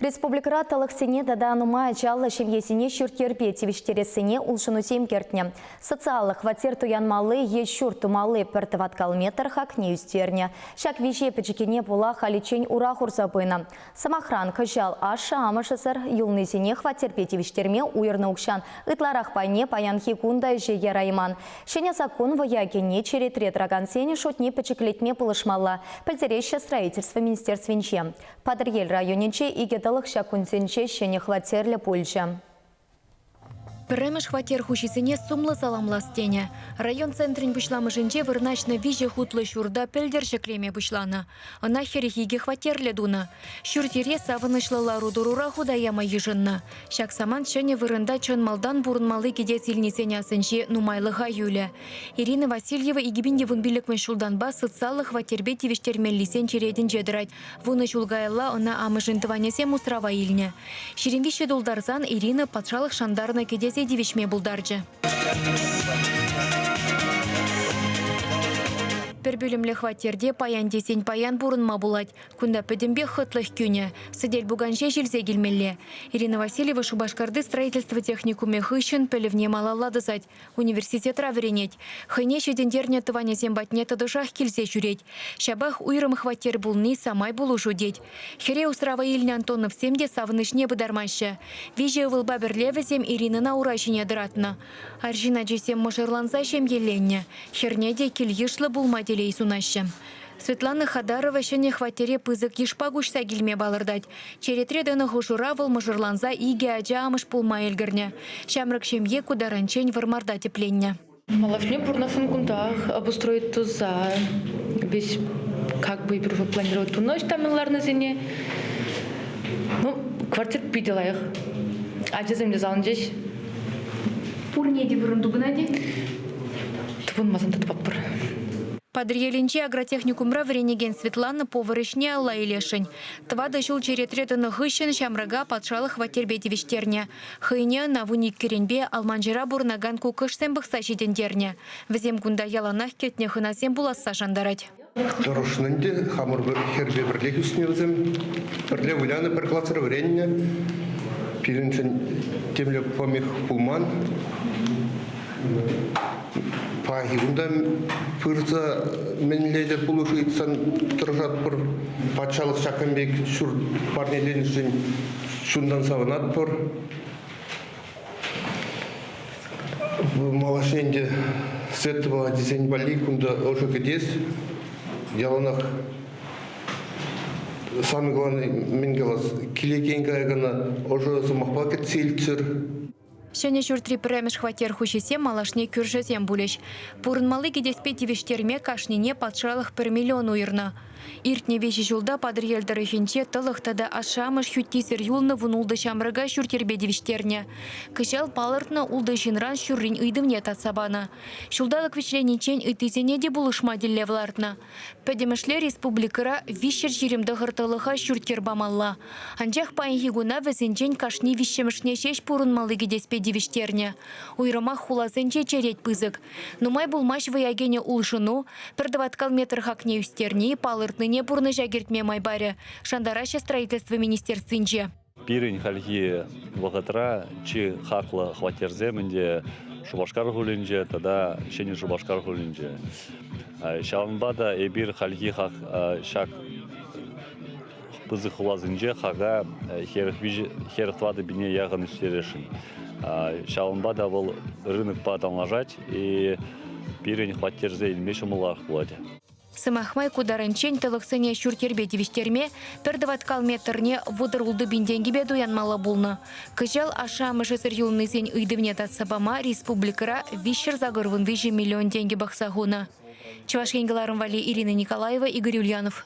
Республикӑра тӑлӑхсене тата нумай ачаллӑ ҫемьесене ҫурт-йӗрпе тивӗҫтерессине улшӑнусем кӗртнӗ. Социаллӑ хваттер туянмалли е ҫурт тумалли пӗр тӑваткал метр хакне ӳстернӗ. Ҫак виҫе пӗчӗккине пула халиччен ура хурса пынӑ. Сӑмахран, кӑҫал ашшӗ-амӑшӗсӗр юлнисене хваттерпе тивӗҫтерме уйӑрнӑ укҫан ытларах пайне паянхи кун та ӗҫе ярайман. Ҫӗнӗ саккун вӑя кӗнӗ черетре тӑракансен шутне пӗчӗклетме пулӑшмалла, пӗлтереҫҫӗ Строительство министерствинче. Патӑрьел районӗнче икӗ тӑлӑх ҫак кунсенче ҫӗнӗ хваттерлӗ пулчӗ. Пӗрремӗш хваттер хуҫисене сумлӑ саламлас тенӗ. Район центрӗн пуҫламӑшӗнче вырнаҫнӑ виҫӗ хутлӑ ҫурта пӗлтӗр ҫӗклеме пуҫланӑ. Ӑна хӗрӗх икӗ хваттерлӗ тунӑ. Ҫурт-йӗре савӑнӑҫлӑ лару-тӑрура хута яма йышӑннӑ. Ҫак самант ҫӗнӗ вырӑнта чӑн малтан пурӑнмалли кӗтес илнисен асӗнче нумайлӑха юлӗ. Ирина Васильева икӗ пин те вун пиллӗкмӗш ҫултанпа социаллӑ хваттерпе тивӗҫтермеллисен черетӗнче тӑрать. Вунӑ ҫул каялла ӑна амӑшӗн тӑванӗсем усрава илнӗ. Ҫирӗм виҫҫӗ тултарсан Ирина патшалӑх шантарнӑ кӗтесе тивӗҫме пултарчӗ. Пӗр пӳлӗмлӗ хваттерте паян тесен паян пурӑнма пулать. Кунта пӗтӗмпех хӑтлӑх кӳнӗ. Сӗтел-пукан ҫеҫ илсе килмелле. Ирина Васильева Шупашкарти строительство техникумӗ хыҫҫӑн пӗлӗвне малалла тӑсать. Университетра вӗренет. Хӑйне ҫитӗнтернӗ тӑванӗсем патне тӑтӑшах килсе ҫӳрет. Ҫапах уйрӑм хваттер пулни самай пулӑшу тет. Хӗре усрава илнӗ Антоновсем те савӑнӑҫне пытармаҫҫӗ. Виҫӗ ывӑлпа пӗрле вӗсем Иринӑна ура ҫине тӑратнӑ. Арҫын ачисем мӑшӑрланса ҫемьеленнӗ. Хӗрне те кил-йышлӑ пулма телей сунаҫҫӗ. Светлана Хадарова ҫӗнӗ хваттере пысӑк йышпа куҫса килме палӑртать. Черетре тӑнӑ хушӑра вӑл мӑшӑрланса икӗ ача амӑш пулма ӗлкӗрнӗ. Ҫамрӑк ҫемье ку таранччен Вӑрмарта тӗпленнӗ. Малашне пурӑнасшӑн кунтах обустроить туса весь как бы планировать тунӑ ӑҫта мӗн ларнисене. Ну, квартир питӗ лайӑх. Ачасем те залӑнчӗҫ. Пурне те вырӑн тупӑнать-и? Тупӑнмасан та тупатпӑр. Патӑрьелӗнчи агротехникумра вӗренекен Светлана повар ӗҫне алла илесшӗн. Тӑватӑ ҫул черетре тӑнӑ хыҫҫӑн ҫамрӑка патшалӑх хваттерпе тивӗҫтернӗ. Хӑйне ӑна вун иккӗренпе Алманчӑра пурӑнакан куккӑшсем пӑхса ҫитӗнтернӗ. Вӗсем кунта яланах кӗтнӗ хӑнасем пуласса шантарать. Тӑрӑшнӑ ӗнтӗ. Хамӑр пӗр хӗрпе пӗрлех ӳснӗ вӗсем. Пӗрле вылянӑ, пӗр класра вӗреннӗ. Пирӗншӗн темле помех пулман. Пахи кунта пырса мӗнле те пулӑшу ыйтсан тӑрӑшатпӑр. Патшалӑх ҫакӑн пек ҫурт парнеленӗшӗн чунтан савӑнатпӑр. Малашне ӗнтӗ Светова тесен валли кунта ӑшӑ кӗтес. Яланах сан калани мӗн калас, килекен кая кӑна ӑшӑ сӑмахпа кӗтсе илччӗр. Ҫӗнӗ ҫуртри пӗрремӗш хваттер хуҫисем малашне кӳршӗсем пулӗҫ. Пурӑнмалли кӗтеспе тивӗҫтерме кашнине патшалӑх пӗр миллион уйӑрнӑ. Иртнӗ виҫӗ ҫулта Патӑрьел тӑрӑхӗнче тӑлӑх тата ашшӗ-амӑш хӳттисӗр юлнӑ вун-ултӑ ҫамрӑка ҫурт-йӗрпе тивӗҫтернӗ. Кӑҫал палӑртнӑ ултӑ ҫынран ҫуррин ыйтӑвне татса панӑ. Ҫулталӑк вӗҫлениччен ыттисене те пулӑшма тӗллев лартнӑ. Пӗтӗмӗшле республикӑра виҫҫӗр ҫирӗм тӑхӑр тӑлӑха ҫурт-йӗр памалла. Анчах паянхи куна вӗсенчен кашни виҫҫӗмӗшне ҫеҫ пурӑнмалли кӗтеспе тивӗҫтернӗ. Уйрӑмах хуласенче черет пысӑк. Нумай пулмасть вӑя кӗнӗ улшӑну пӗр тӑваткал метр хакне ӳстерни, палӑртнине пурнӑҫа кӗртме май парӗ, шантараҫҫӗ Строительство министерствинче. Пирӗн хальхи вӑхӑтра чи хаклӑ хваттерсем ӗнтӗ Шупашкар хулинче тата Ҫӗнӗ Шупашкар хулинче. Ҫавӑнпа та эпир хальхи хак ҫак пысӑк хуласенче хака хӗрӗх тӑватӑ яхӑн ӳстересшӗн. Ҫавӑнпа та вӑл рынокпа танлашать и пирӗн хваттерсе илме ҫӑмӑлах пулать. Сӑмах май, ку тарӑнччен тӑлӑхсене ҫурт-йӗрпе тивӗҫтерме, пӗр тӑваткал метрне вутӑ ултӑпин тенкипе туянмалла пулнӑ. Кӑҫал ашшӗ-амӑшӗсӗр юлнисен ыйтӑвне татса пама республикӑра виҫҫӗр сакӑр вунвиҫӗ миллион тенкӗ пӑхса хунӑ. Чӑваш Ен кӑларӑм валли Ирина Николаева, Игорь Ульянов.